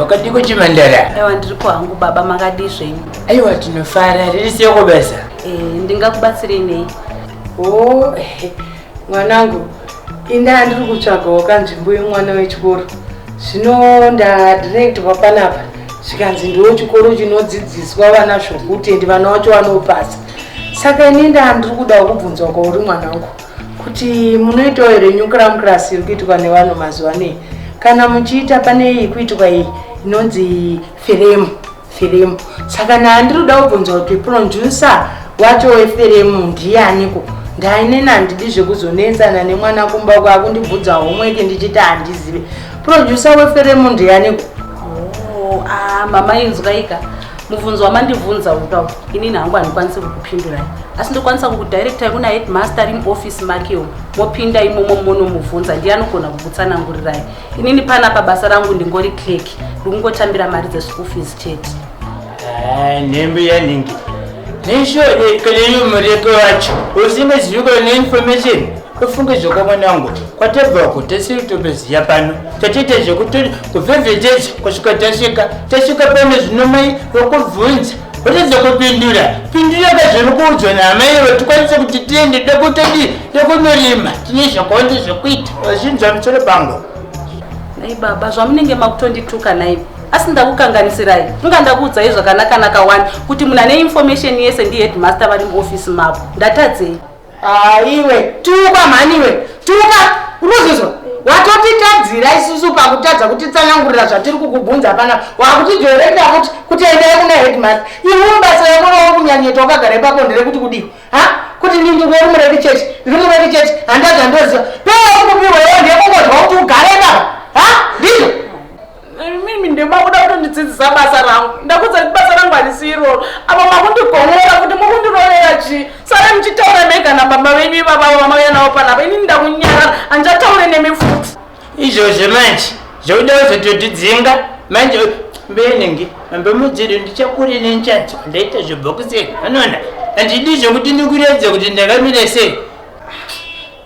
wakadiko chimandara aiwa ndiripo hangu baba makadii zvenyu aiwa tinofara riri siyoko basa eh, ndingakubatsirei nei o oh, eh, mwanangu indaa ndiri kutsvagawo kanzvimbo yemwana wechikoro zvino ndadirektwa panapa zvikanzi ndiwo chikoro chinodzidziswa vana zvokuti endi vana wacho vanopasa saka ini ndaa ndiri kudawo kubvunzwa kwauri mwanangu kuti munoitawo here new cram class iri kuitwa nevanhu mazuva anei kana muchiita pane iyi kuitwa iyi inonzi firemu firemu saka naandiri kuda kubvunza kuti pronjusa wacho weferemu ndiyaniko ndainena handidi zvekuzonetsana nemwana kumba uko akundibvudza homweke ndichiti handizive pronjusa weferemu ndiyaniko oh, ah, mama inzwaika mubvunzo wamandibvunza uda inini hangu handikwanisi kukupindurai asi ndokwanisa kukudirectai kuna headmaster ari muoffice makeo mopinda imomo monomubvunza ndiye anogona kukutsanangurirai inini pana pabasa rangu ndingori clerk ndikungotambira mari dzeschool fees chete eh, nhembe yanhingi neshode kune mureko wacho usingazivi kune information ufunge zvoka mwana wangu kwatabvako tasiri totoziva pano tatiita zvekuti kuvhevhetedza kusvika tasvika tasvika pano zvino mai vakubvunza uridze kupindura pindura kazviri kuudzwa naamai ivo tikwanise kuti tiende dokutodi dokunorima tine zvakonde zvekuita vazvinzwa musoro pangu nai baba zvamunenge makutondituka naivo asi ndakukanganisirai inga ndakuudzai zvakanakanaka wani kuti munhu ane information yese ndiheadmaster vari muofisi mavo ndatadzei Ah, iwe tuka mhani iwe tuka unozozwa watotitadzira isusu pakutadza kutitsanangurira zvatiri kukubvunza pana wakutidyorenda kuti kuti endai kuna headmaster iwe basa rako rova kunyanyeta wakagara ipapo nderekuti kudii ha kuti ndindi uri muredi church ndiri muredi church handazvandoziva pee kupiwa iwe ndekungozwa kuti ugare ipapo ha ndizvo mimi ndemakuda kutondidzidzisa basa rangu ndakudza kuti basa rangu harisi iroro apa makundigonora kuti mukundirovera chii sare muchitaura mega nababa venyu ivavavo vamauya navo panapa inini ndakunyarara handichataure nemi futi izvozvo manje zvokuda kuzototidzinga manje mbenenge mambe mudziro ndichakure nenchanzi wandaita zvobhokusei anoona handidi zvokuti ndikuredza kuti ndakamira sei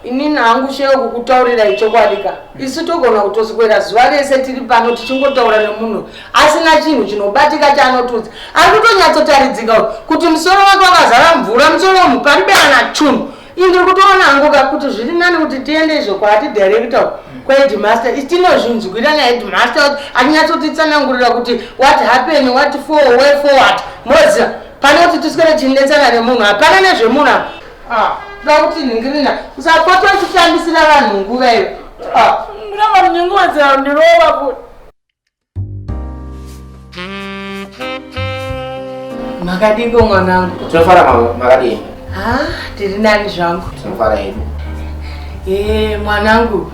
Inini hangu chero kukutaurirai chokwadi ka isu togona kutoswera zuva rese tiri pano tichingotaura nemunhu asina chinhu chinobatika chaanotudza ari kutonyatsotaridzika kuti musoro wake wakazara mvura musoro wemhu pariberana chunhu ii ndiri kutoona hangu ka kuti zviri nani kuti tiende izvo kwaatidirekta uku kwahedmaster tinozvinzwira nahedmaster atinyatsotitsanangurira kuti what happen what for way forward moziva pane kuti tiswere tichindetsana nemunhu hapana nezvemunhu apa Ah, kuda kuti nhingirina usapota uchitambisira vanhu nguva iyo ah. ndinova ndingodzera ndirova kuti makadiko mwanangu tinofara makadii ha ah, tiri nani zvangu tinofara hedu ee mwanangu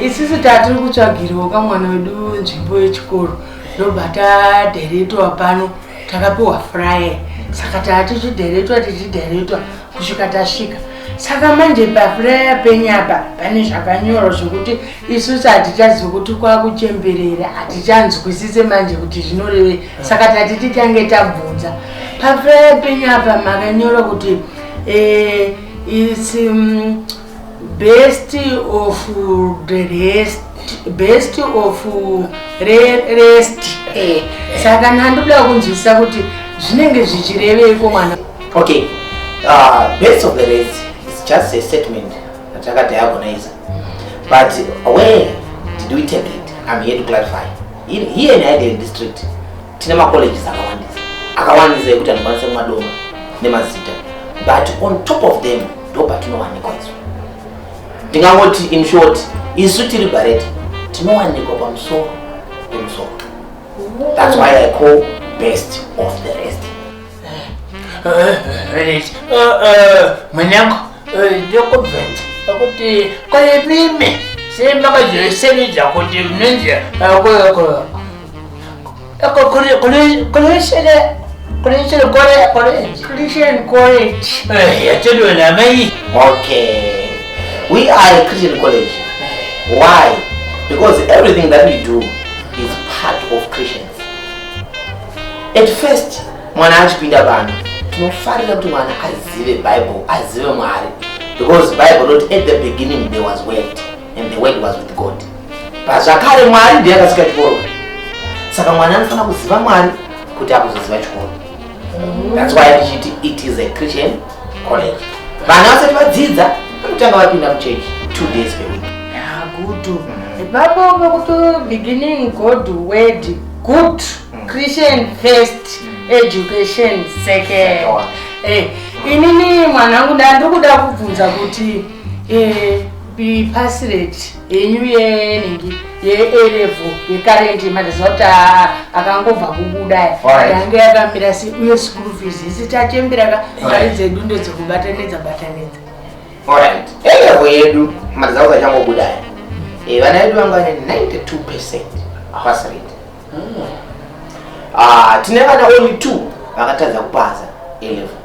isisu tatiri kutsvagiriwo kamwana wedu nzvimbo yechikoro ndobva taderetwa pano e, takapiwa fryer saka taa tichidheretwa tichidheretwa kusvika tasvika saka manje pafraya penyapa pane zvakanyorwa zvekuti isusu hatichazi kuti kwakuchemberera hatichanzwisise manje kuti zvinorevei saka tati titange tabvunza pafraya penyapa makanyorwa kuti eh, isi mm, best of the rest best of re, rest eh. saka ndandoda kunzwisisa kuti zvinenge zvichireveiko mwana okay uh, best of the rest is just a statement atakadiagonize but where did we take it i'm here to clarify here in idea district tine macolleges akawandisa akawandisa ekuti anokwanisa kumadoma nemazita but on top of them ndo patinowanikwa isu ndingangoti in short isu tiri bareti tinowanikwa pamusoro pemusoro thats why i call best of the rest mwanangu ndokubvenza akuti kwaye mimi semakazoisenedza kuti mnonzi Because everything that we do is part of Christians. At first, mwana achipinda vanhu tinofarira kuti mwana azive bible azive mwari because bible not at the beginning there was word and the word was with god pazvakare mwari ndiye akasika chikoro saka mwana anofanira kuziva mwari kuti akuzoziva chikoro mm. thats why ndichiti it is a christian college vana vasati vadzidza vanotanga vapinda muchechi two days per week good mm. ipapo pekuti beginning god word good mm. christian first education second eh, inini mwanangu ndandikuda kubvunza kuti eh, be pasirate henyu yenhingi yeerevo yekarendi mandiziva kuti akangobva kubuda yange yakamira si uye school fees isi tachembiraka mari dzedu ndedzekubatanidza batanidza orit erevo yedu mandiziva kuti achangobuda eh, vana vedu vanga vane 92 percent pass rate hmm. ah, tine vana only two vakatadza kupasa elevo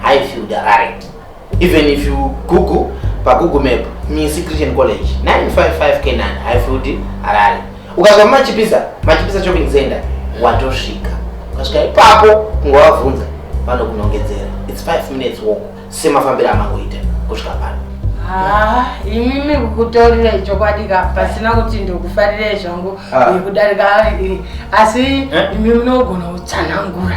Highfield Harare. Even if you Google pa Google Map Misi Christian College 955 Canaan Highfield Harare. Ukazwa machipisa, machipisa shopping center watosvika. Ukasvika ipapo ungavabvunza vanokunongedzera. It's 5 minutes walk semafambiro amangoita kusvika pano. Ah, imimi kukutaurira chokwadi ka pasina kuti ndikufarire zvangu ah. kudarika eh, asi eh? imi munogona kutsanangura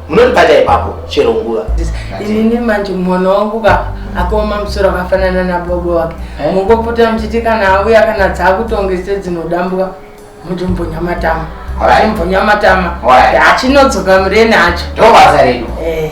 munondibata ipapo chero nguva inini manje mwana wangu ka akaoma musoro akafanana nabobo wake eh? mungopota muchiti kana auya kana dzaakutongese dzinodambuka muti mbonya matama mbonya matama achinodzoka mureni acho ndobasa redu eh.